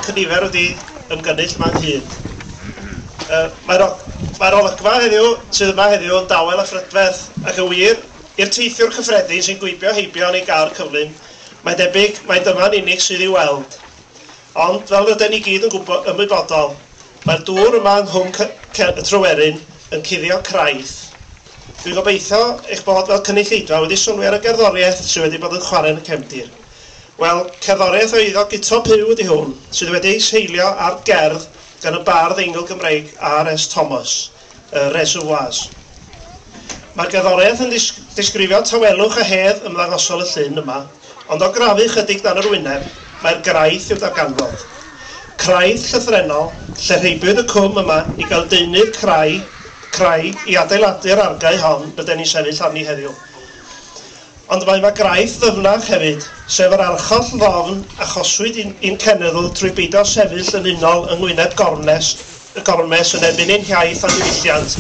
cynifer wedi ymgynnull yma ynghyd. Mae'r mae olygfa heddiw sydd yma heddiw yn dawel a phrydferth ac yn wir, i'r teithiwr cyffredin sy'n gwibio heibio yn ei gar cyflym, mae'n debyg mai dyma'n unig sydd i'w weld. Ond, fel ryden ni gyd yn gwybod, ymwybodol, mae'r dŵr yma yng Nghwm Cer y Tryweryn yn cuddio craidd. Dwi'n gobeithio eich bod fel cynulleidfa wedi sylwi ar y gerddoriaeth sydd wedi bod yn chwarae yn y cefndir. Wel, cerddoriaeth o eiddo Guto Puw ydy hwn, sydd wedi ei seilio ar gerdd gan y bardd eingl Gymreig RS Thomas. y reservoirs. Mae'r gerddoriaeth yn disgrifio tawelwch a hedd ymddangosol y llyn yma, ond o grafu chydig dan yr wyneb, mae'r graith i'w darganfod. Craith llythrennol, lle rheibiwyd y cwm yma i gael deunydd crai, craig, i adeiladu'r argae hon ryden ni'n sefyll arni heddiw. Ond mae yma graidd ddyfnach hefyd, sef yr archoll ddofn achoswyd i'n i'n cenedl trwy beidio sefyll yn unol yng ngwyneb gormes y gormes yn erbyn ein hiaith a'n diwylliant,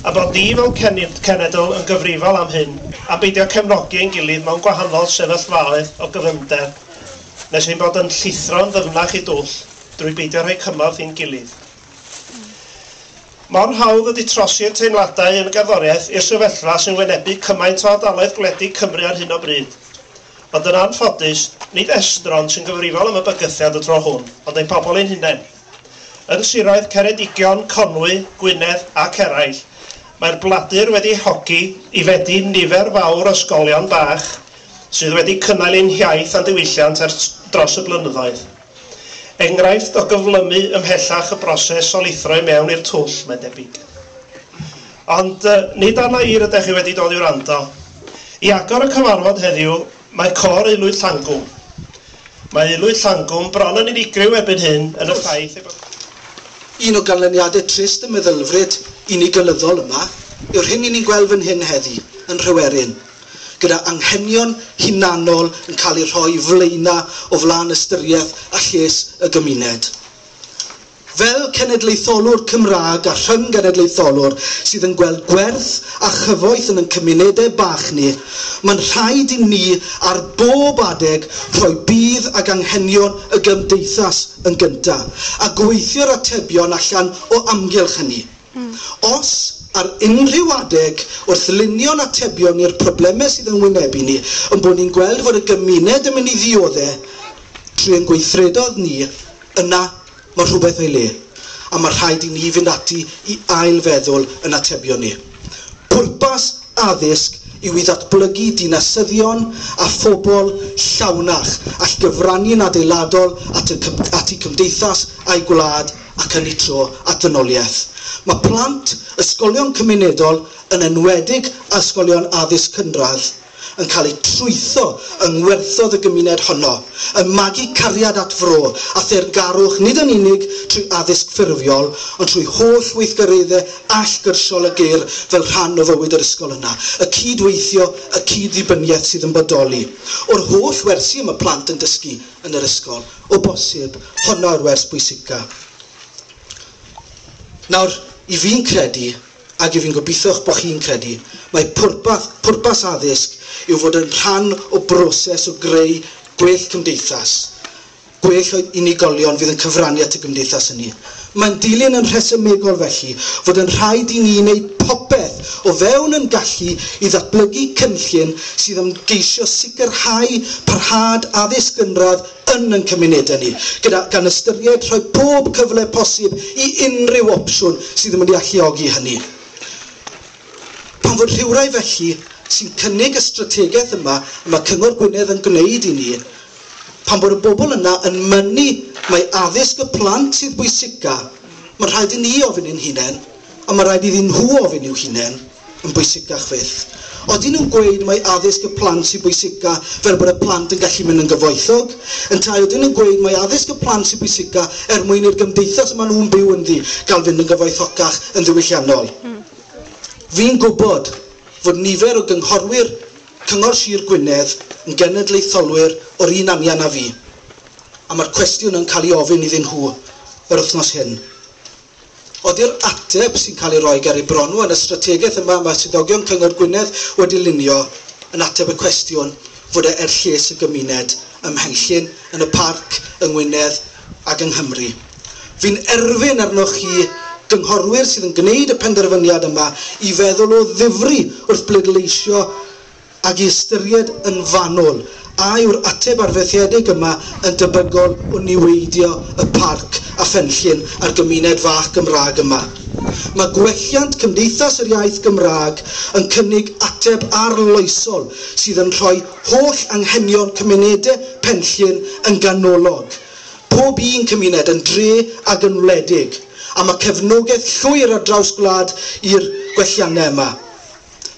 a bod ni fel cen- cenedl yn gyfrifol am hyn, am beidio cefnogi ein gilydd mewn gwahanol sefyllfaoedd o gyfyngder, nes ein bod yn llithro'n ddyfnach i dwll, drwy beidio rhoi cymorth i'n gilydd. Mor hawdd ydy trosi'r teimladau yn gerddoriaeth i'r sefyllfa sy'n wynebu cymaint o ardaloedd gwledig Cymru ar hyn o bryd. Ond yn anffodus, nid estron sy'n gyfrifol am y bygythiad y tro hwn, ond ein pobl ein hunain. Yn siroedd Ceredigion, Conwy, Gwynedd ac eraill, mae'r bladur wedi ei hogi i fedi nifer fawr o ysgolion bach sydd wedi cynnal ein hiaith a'n diwylliant ers dros y blynyddoedd. Enghraifft o gyflymu ymhellach y broses o lithro i mewn i'r twll, mae'n debyg. Ond nid arna i rydech chi wedi dod i wrando. I agor y cyfarfod heddiw, mae Côr Aelwyd Llangwm. Mae Aelwyd Llangwm bron yn unigryw erbyn hyn yn y ffaith ei bod yn. Un o ganlyniadau trist y meddylfryd unigolyyddol yma yw'r hyn i ni'n gweld fan hyn heddi, yn Nhryweryn, gyda anghenion hunanol yn cael eu rhoi flaena o flaen ystyriaeth a lles y gymuned. Fel cenedlaetholwr Cymraeg a rhyng-genedlaetholwr sydd yn gweld gwerth a chyfoeth yn yn cymunedau bach ni, mae'n rhaid i ni ar bob adeg rhoi budd ag anghenion y gymdeithas yn gyntaf, a gweithio'r atebion allan o amgylch hynny. Os, ar unrhyw adeg, wrth lunio'n atebion i'r problemau sydd yn wynebu ni, ein bod ni'n gweld fod y gymuned yn mynd i ddiodde' trwy ein gweithredoedd ni, yna mae rhywbeth o'i le, a mae rhaid i ni fynd ati i ail-feddwl yn atebion ni. Pwrpas addysg yw i ddatblygu dinasyddion a phobl llawnach all gyfrannu'n adeiladol at y at y cymdeithas a'i gwlad, ac yn eu tro at ddynoliaeth. Mae plant ysgolion cymunedol, yn enwedig ysgolion addysg cynradd, yn cael eu trwytho yng ngwerthoedd y gymuned honno, yn magu cariad at fro a theyrngarwch nid yn unig trwy addysg ffurfiol ond trwy holl weithgareddau allgyrsiol a glir fel rhan o fywyd yr ysgol yna. Y cyd-weithio, y cyd-ddibyniaeth sydd yn bodoli o'r holl wersi y mae plant yn dysgu yn yr ysgol. O bosib, honno yw'r wers bwysica. Nawr, i fi'n credu, ag i fi'n gobeithio'ch bod chi'n credu, mae pwrpas, pwrpas addysg yw fod yn rhan o broses o greu gwell cymdeithas, gwell o unigolion fydd yn cyfrannu at y gymdeithas hynny. Mae'n dilyn yn rhesymegol felly fod yn rhaid i ni wneud popeth o fewn yn gallu i ddatblygu cynllun sydd am geisio sicrhau parhad addysg gynradd yn yn cymunedau ni, gyda gan ystyried rhoi pob cyfle posib i unrhyw opsiwn sydd yn mynd i alluogi hynny. Pan fod rhywrai felly sy'n cynnig y strategaeth yma y mae Cyngor Gwynedd yn gwneud i ni, Pan bod y bobl yna yn mynnu mai addysg y plant sydd bwysica, mae'n rhaid i ni ofyn i'n hunain, ond mae'n rhaid iddyn nhw ofyn i'w hunain, yn bwysicach fyth. Odyn nhw'n gweud mai addysg y plant sydd bwysica fel bod y plant yn gallu mynd yn gyfoethog? Yntau odyn nhw'n gweud mai addysg y plant sydd bwysica er mwyn i'r gymdeithas y maen nhw'n byw ynddi gael fynd yn gyfoethocach yn ddiwylliannol? Fi'n gwybod fod nifer o gynghorwyr Cyngor Sir Gwynedd yn genedlaetholwyr o'r un anian â fi, a mae'r cwestiwn yn cael ei ofyn iddyn nhw yr wythnos hyn. Ydy'r ateb sy'n cael ei roi ger eu bron nhw yn y strategaeth yma mae swyddogion Cyngor Gwynedd wedi lunio yn ateb y cwestiwn fod e er lles y gymuned ym Mhenllyn, yn y Parc, yng Ngwynedd, ag yng Nghymru. Fi'n erfyn arnoch chi, gynghorwyr sydd yn gwneud y penderfyniad yma, i feddwl o ddifri wrth bleidleisio ac i ystyried yn fanwl a yw'r ateb arfaethedig yma yn debygol o niweidio y parc a phenllyn a'r gymuned fach Gymraeg yma. Mae gwelliant Cymdeithas yr Iaith Gymraeg yn cynnig ateb arloesol sydd yn rhoi holl anghenion cymunede Penllyn yn ganolog, pob un cymuned yn dre ag yn wledig, a ma cefnogaeth llwyr ar draws gwlad i'r gwellianne yma.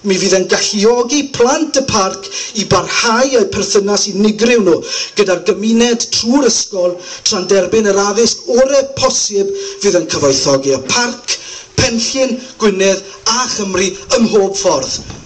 Mi fydd e'n galluogi plant y parc i barhau a'u perthynas unigryw nhw gyda'r gymuned trwy'r ysgol tra'n derbyn yr addysg ore posib fydd yn cyfoethogi y parc, Penllyn, Gwynedd a Chymru ym mhob ffordd.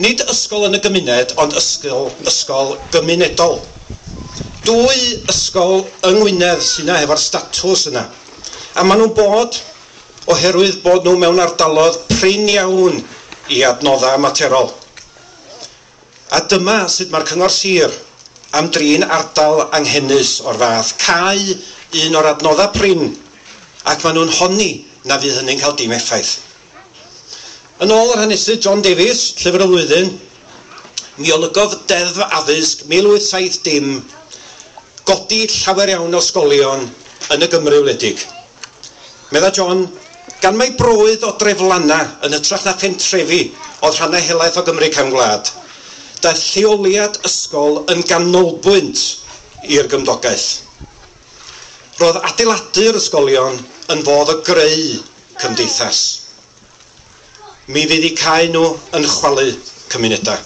Nid ysgol yn y gymuned ond ysgol, ysgol gymunedol. Dwy ysgol yng Ngwynedd sy'na hefo'r statws yna. A maen nhw'n bod oherwydd bod nhw mewn ardaloedd prin iawn i adnoddau ymaterol. A dyma sut mae'r Cyngor Sir am drin ardal anghenus o'r fath, cau un o'r adnoddau prin ac maen nhw'n honni na fydd hynny'n cael dim effaith. Yn ôl yr hanesydd John Davies, Llyfr y Flwyddyn, mi olygodd Deddf Addysg 1870 godi llawer iawn o ysgolion yn y Gymru wledig. Medda John, Gan mai brôudd o dreflanna yn hytrach na phentrefi oedd rhannau helaeth o Gymru cefn gwlad, daeth lleoliad ysgol yn ganolbwynt i'r gymdogaeth. Roedd adeiladu yr ysgolion yn fodd o greu cymdeithas. Mi fydd eu cau nhw yn chwalu cymunedau.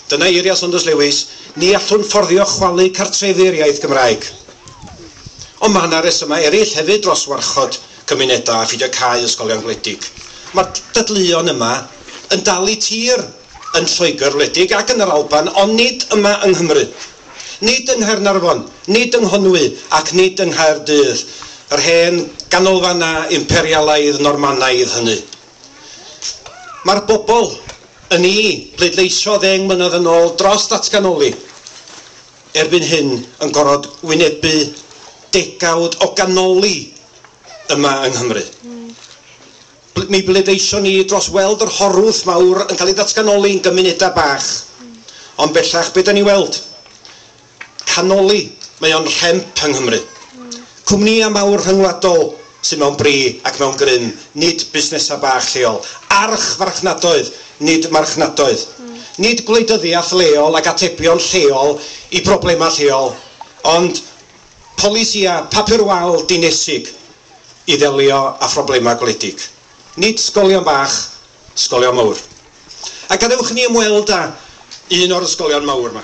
Dyna eiriau Saunders Lewis, ni allwn fforddio chwalu cartrefi'r iaith Gymraeg. Ond mae yna resymau eraill hefyd dros warchod cymunedau a pheidio cau ysgolion gwledig. Mae'r dadleuon yma yn dal i tir yn Lloegr wledig ac yn yr Alban ond nid yma yng Nghymru. Nid yng Nghaernarfon, nid yng Nghonwy ac nid yng Nghaerdydd, yr hen ganolfannau imperialaidd Normanaidd hynny. Mae'r bobl yn i bleidleisio ddeng mlynedd yn ôl dros ddatganoli erbyn hyn yn gorfod wynebu degawd o ganoli yma yng Nghymru. Mi bleidleision ni dros weld yr horwth mawr yn cael ei ddatganoli yn gymunedau bach, ond bellach be dan ni'n weld? Canoli, mae o'n rhemp yng Nghymru. Cwmnïau mawr rhyngwladol sydd mewn bri ac mewn grym, nid busnesau bach lleol. Archfarchnadoedd, nid marchnadoedd. Nid gwleidyddiaeth leol ac atebion lleol i broblemau lleol, ond polisïau papur wal dinesig i ddelio â phroblemau gwledig. Nid sgolion bach, sgolion mawr. A gadewch i ni ymweld â un o'r ysgolion mawr 'ma.